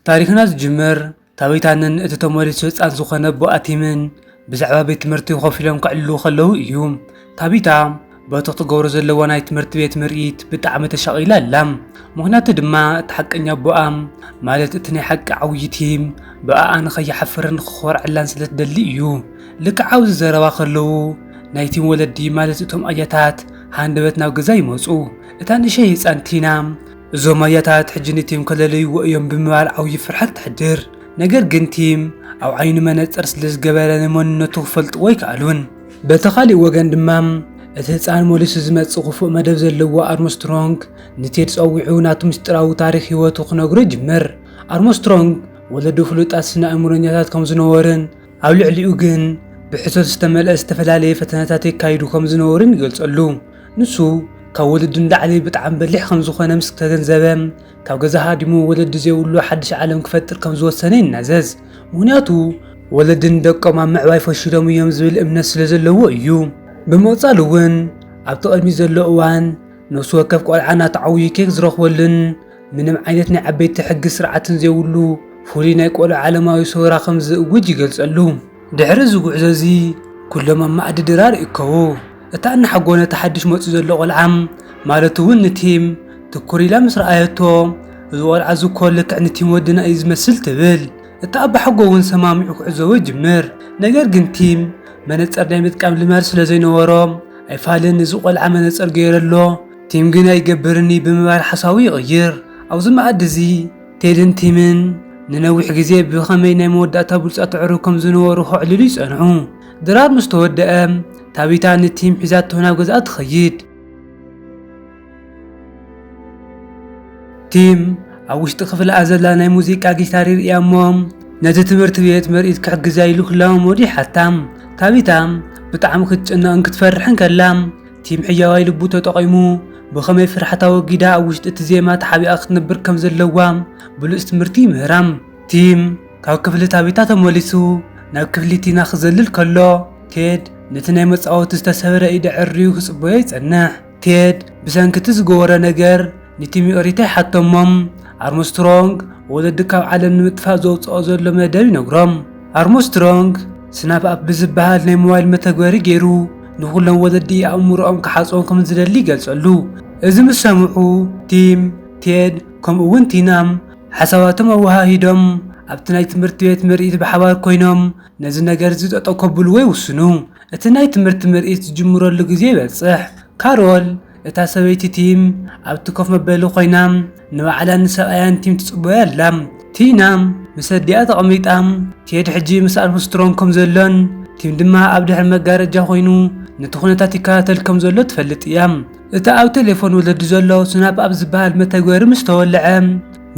ታሪኽና ዝጅምር ታበይታንን እቲ ተመሊሱ ህጻን ዝኾነ ኣቦ ኣቲምን ብዛዕባ ቤት ትምህርቲ ኮፍ ኢሎም ከዕልሉ ከለዉ እዩ። ታቢታ በቲ ክትገብሮ ዘለዋ ናይ ትምህርቲ ቤት ምርኢት ብጣዕሚ ተሻቒላ ኣላ። ምኽንያቱ ድማ እቲ ሓቀኛ ኣቦኣ ማለት እቲ ናይ ሓቂ ዓብዪ ቲም ብኣኣ ንኸይሓፍርን ንኽኾርዐላን ስለ ትደሊ እዩ። ልክዕ ኣብዚ ዘረባ ከለዉ ናይ ቲም ወለዲ ማለት እቶም ኣያታት ሃንደበት ናብ ገዛ ይመጹ። እታ ንእሸይ ህጻን ቲና እዞም ኣያታት ሕጂ ንቲም ከለለይዎ እዮም ብምባል ዓብዪ ፍርሐት ተሕድር። ነገር ግን ቲም ኣብ ዓይኑ መነፀር ስለዝገበረ ንመንነቱ ክፈልጥዎ ኣይከኣሉን። በቲ ካሊእ ወገን ድማ እቲ ህፃን መሊሱ ዝመፅእ ክፉእ መደብ ዘለዎ ኣርምስትሮንግ ንቴድ ፀዊዑ ናቱ ምስጢራዊ ታሪኽ ህይወቱ ክነግሮ ይጅምር። ኣርምስትሮንግ ወለዱ ፍሉጣት ስነ ኣእምሮኛታት ከምዝነበሩን ኣብ ልዕሊኡ ግን ብሕሶት ዝተመልአ ዝተፈላለየ ፈተነታት የካይዱ ከምዝነበሩን ይገልፀሉ። ንሱ ካብ ወለዱ ንላዕሊ ብጣዕሚ በሊሕ ከም ዝኾነ ምስ ተገንዘበ፣ ካብ ገዛ ሃዲሙ ወለዲ ዘይብሉ ሓድሽ ዓለም ክፈጥር ከም ዝወሰነ ይናዘዝ። ምኽንያቱ ወለዲ ንደቆም ኣብ ምዕባይ ፈሺሎም እዮም ዝብል እምነት ስለ ዘለዎ እዩ። ብምቕጻል እውን ኣብቲ ቅድሚት ዘሎ እዋን ነፍሲ ወከፍ ቆልዓ ናቱ ዓብዩ ኬክ ዝረኽበሉን ምንም ዓይነት ናይ ዓበይቲ ሕጊ ስርዓትን ዘይብሉ ፍሉይ ናይ ቆልዑ ዓለማዊ ሰውራ ከም ዝእውጅ ይገልጸሉ። ድሕሪ እዚ ጉዕዞ እዚ ኩሎም ኣብ መኣዲ ድራር ይእከቡ። እታ እናሓጎነታ ሓድሽ መጽዩ ዘሎ ቆልዓ ማለት እውን ንቲም ትኩር ኢላ ምስ ረኣየቶ፣ እዚ ቆልዓ እዚ እኮ ልክዕ ንቲም ወድና እዩ ዝመስል ትብል። እቲ ኣባሓጎ እውን ሰማሚዑ ክዕዘቦ ይጅምር። ነገር ግን ቲም መነጸር ናይ ምጥቃም ልማድ ስለ ዘይነበሮ ኣይፋልን እዚ ቆልዓ መነጸር ገይረ ኣሎ፣ ቲም ግን ኣይገብርን እዩ ብምባል ሓሳቡ ይቕይር። ኣብዚ መኣዲ እዚ ቴድን ቲምን ንነዊሕ ግዜ ብኸመይ ናይ መወዳእታ ብሉጻት ኣዕሩኽ ከም ዝነበሩ ከዕልሉ ይጸንሑ። ድራር ምስ ተወደኣ፣ ታቢታ ንቲም ሒዛቶ ናብ ገዝኣ ትኸይድ። ቲም ኣብ ውሽጢ ክፍልኣ ዘላ ናይ ሙዚቃ ጊታር ይርእያ እሞ ነቲ ትምህርቲ ቤት ምርኢት ክሕግዛ ኢሉ ክለማመዱ ይሓታ። ታቢታ ብጣዕሚ ክትጭነቕን ክትፈርሕን ከላ፣ ቲም ሕያዋይ ልቡ ተጠቒሙ ብኸመይ ፍርሓታ ኣወጊዳ ኣብ ውሽጢ እቲ ዜማ ተሓቢኣ ክትነብር ከም ዘለዋ ብሉጽ ትምህርቲ ይምህራ። ቲም። ካብ ክፍሊ ታቢታ ተመሊሱ ናብ ክፍሊ ቲና ክዘልል ከሎ ቴድ ነቲ ናይ መጻወቲ ዝተሰብረ ኢድ ኣዐርዩ ክጽበዮ ይጸንሕ። ቴድ ብሰንኪ እቲ ዝገበሮ ነገር ንቲሚ ኦሪታ ይሓቶሞም። ኣርምስትሮንግ ወለዱ ካብ ዓለም ንምጥፋእ ዘውጽኦ ዘሎ መደብ ይነግሮም። ኣርምስትሮንግ ስናፕ ኣፕ ብዝበሃል ናይ ሞባይል መተግበሪ ገይሩ ንኹሎም ወለዲ ኣእምሮኦም ክሓጽቦም ከም ዝደሊ ይገልጸሉ። እዚ ምስ ሰምዑ ቲም፣ ቴድ ከምኡ'ውን ቲና ሓሳባቶም ኣወሃሂዶም ኣብቲ ናይ ትምህርቲ ቤት ምርኢት ብሓባር ኮይኖም ነዚ ነገርዚ ጠጠው ከብልዎ ይውስኑ። እቲ ናይ ትምህርቲ ምርኢት ዝጅምረሉ ግዜ ይበጽሕ። ካሮል፣ እታ ሰበይቲ ቲም፣ ኣብቲ ኮፍ መበሊ ኮይና ንባዕላን ንሰብኣያን ቲም ትጽበዮ ኣላ። ቲና ምስ ኣዲኣ ተቐሚጣ፣ ቴድ ሕጂ ምስ ኣርምስትሮንግ ከም ዘሎን ቲም ድማ ኣብ ድሕሪ መጋረጃ ኮይኑ ነቲ ኩነታት ይከታተል ከም ዘሎ ትፈልጥ እያ። እቲ ኣብ ቴሌፎን ወለዲ ዘሎ ስናፕ ኣብ ዝበሃል መተግበሪ ምስ ተወልዐ፣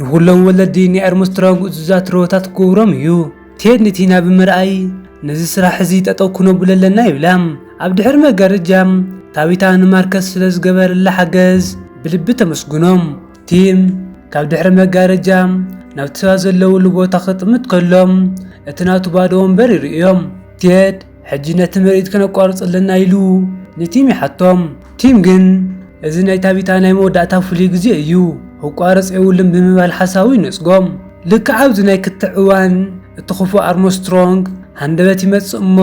ንኹሎም ወለዲ ናይ ኣርምስትሮንግ እዙዛት ርሆታት ክገብሮም እዩ። ቴድ ንቲና ብምርኣይ፣ ነዚ ስራሕ እዚ ጠጠው ክነብሎ ኣለና ይብላ። ኣብ ድሕሪ መጋረጃ፣ ታቢታ ንማርከስ ስለ ዝገበረላ ሓገዝ ብልቢ ተመስግኖም። ቲም ካብ ድሕሪ መጋረጃ ናብቲ ሰባት ዘለውሉ ቦታ ክጥምት ከሎ፣ እቲ ናቱ ባዶ ወንበር ይርእዮ። ቴድ ሕጂ ነቲ ምርኢት ክነቋርጾ ኣለና ኢሉ ንቲም ይሓቶም። ቲም ግን እዚ ናይ ታቢታ ናይ መወዳእታ ፍሉይ ግዜ እዩ፣ ክቋረጽ የብሉን ብምባል ሓሳቡ ይነጽጎም። ልክዕ ኣብዚ ናይ ክትዕ እዋን እቲ ክፉእ ኣርሞስትሮንግ ሃንደበት ይመጽእ እሞ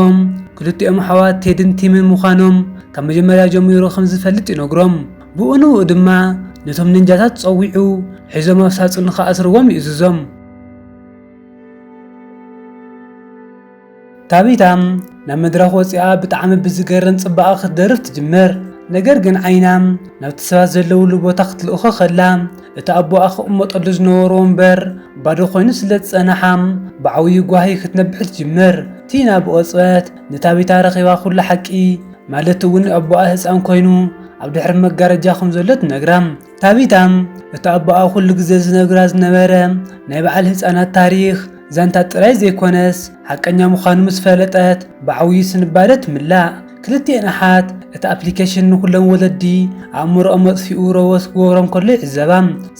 ክልቲኦም ኣሕዋት ቴድን ቲምን ምዃኖም ካብ መጀመርያ ጀሚሩ ከም ዝፈልጥ ይነግሮም። ብኡ ንብኡ ድማ ነቶም ንንጃታት ጸዊዑ ሒዞም ኣብ ሳጹን ንኽኣስርዎም ይእዝዞም። ታቢታ ናብ መድረኽ ወጺኣ ብጣዕሚ ብዝገርም ጽባቐ ክትደርፍ ትጅምር። ነገር ግን ዓይና ናብቲ ሰባት ዘለውሉ ቦታ ክትልእኾ ከላ እቲ ኣቦኣ ክቕመጠሉ ዝነበሮ ወንበር ባዶ ኮይኑ ስለ ዝጸነሓ ብዓብዩ ጓሂ ክትነብዕ ትጅምር። ቲና ብቕጽበት ንታቢታ ረኺባ ኩሉ ሓቂ ማለት እውን ኣቦኣ ህጻን ኮይኑ ኣብ ድሕሪ መጋረጃ ከም ዘሎ ትነግራ። ታቢታ እቲ ኣቦኣ ኩሉ ግዜ ዝነግራ ዝነበረ ናይ በዓል ህጻናት ታሪኽ ዛንታ ጥራይ ዘይኮነስ ሓቀኛ ምዃኑ ምስ ፈለጠት ብዓውዩ ስንባደ ትምላእ። ክልቲኤን ኣሓት እቲ ኣፕሊከሽን ንኹሎም ወለዲ ኣእምሮኦም መጥፊኡ ሮቦት ክገብሮም ከሎ ይዕዘባ።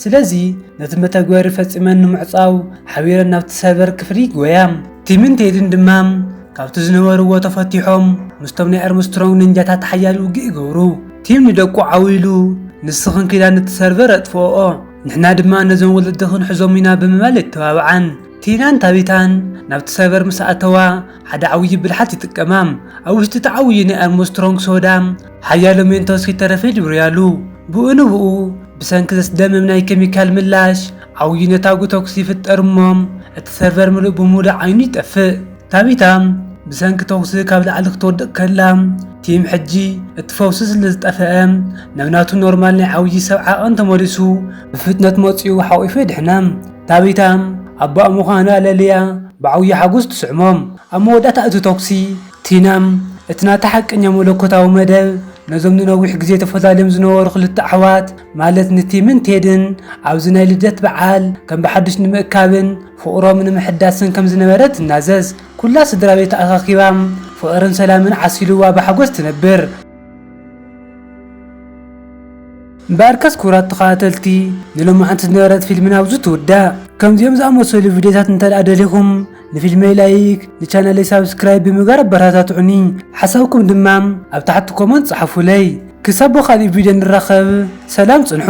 ስለዚ ነቲ መተግበሪ ፈጺመን ንምዕጻው ሓቢረን ናብቲ ሰርቨር ክፍሊ ይጎያ። ቲምን ቴድን ድማ ካብቲ ዝነበርዎ ተፈቲሖም ምስቶም ናይ ኣርምስትሮንግ ነንጃታት ሓያል ውግእ ይገብሩ። ቲም ንደቁ ዓው ኢሉ ንስኽን ኪዳ ነቲ ሰርቨር ኣጥፍኦኦ። ንሕና ድማ ነዞም ወለዲ ክንሕዞም ኢና ብምባል የተባብዓን። ቲናን ታቢታን ናብቲ ሳይበር ምስ ኣተዋ፣ ሓደ ዓብዪ ብልሓት ይጥቀማ። ኣብ ውሽጢ እቲ ዓብዪ ናይ ኣርምስትሮንግ ሶዳ፣ ሓያሎ ሜንቶስ ከይተረፈ ይድብርያሉ። ብኡ ንብኡ፣ ብሰንኪ ዘስደምም ናይ ኬሚካል ምላሽ፣ ዓብዪ ነታጒ ተኵሲ ይፍጠር እሞ፣ እቲ ሰርቨር ምሉእ ብምሉእ ዓይኑ ይጠፍእ። ታቢታ ብሰንኪ ተኹሲ ካብ ላዕሊ ክትወድቕ ከላ፣ ቲም ሕጂ እቲ ፈውሲ ስለ ዝጠፈኣ ናብ ናቱ ኖርማል ናይ ዓውዪ ሰብ ዓቐን ተመሊሱ ብፍጥነት መጺኡ ሓቝፉ የድሕና። ታቢታ ኣቦኣ ምዃና ለልያ ብዓውዪ ሓጎስ ትስዕሞ። ኣብ መወዳእታ እቲ ተኹሲ፣ ቲና እቲ ናታ ሓቀኛ መለኮታዊ መደብ ነዞም ንነዊሕ ግዜ ተፈላልዮም ዝነበሩ ክልተ ኣሕዋት ማለት ንቲምን ቴድን ኣብዚ ናይ ልደት በዓል ከም ብሓድሽ ንምእካብን ፍቕሮም ንምሕዳስን ከም ዝነበረ ትናዘዝ። ኩላ ስድራ ቤት ተኣኻኪባ ፍቕርን ሰላምን ዓሲሉዋ ብሓጎስ ትነብር። እምበኣርከስ ክቡራት ተኸታተልቲ ንሎማዕንቲ ዝነበረት ፊልምና ኣብዚ ትውዳእ። ከምዚኦም ዝኣመሰሉ ቪድዮታት እንተድኣ ደሊኹም ንፊልመይ ላይክ ንቻነለይ ሳብስክራይብ ብምግባር ኣበረታትዑኒ። ሓሳብኩም ድማ ኣብ ታሕቲ ኮመንት ጽሓፉለይ። ክሳብ ብኻልእ ቪድዮ ንራኸብ ሰላም ጽንሑ።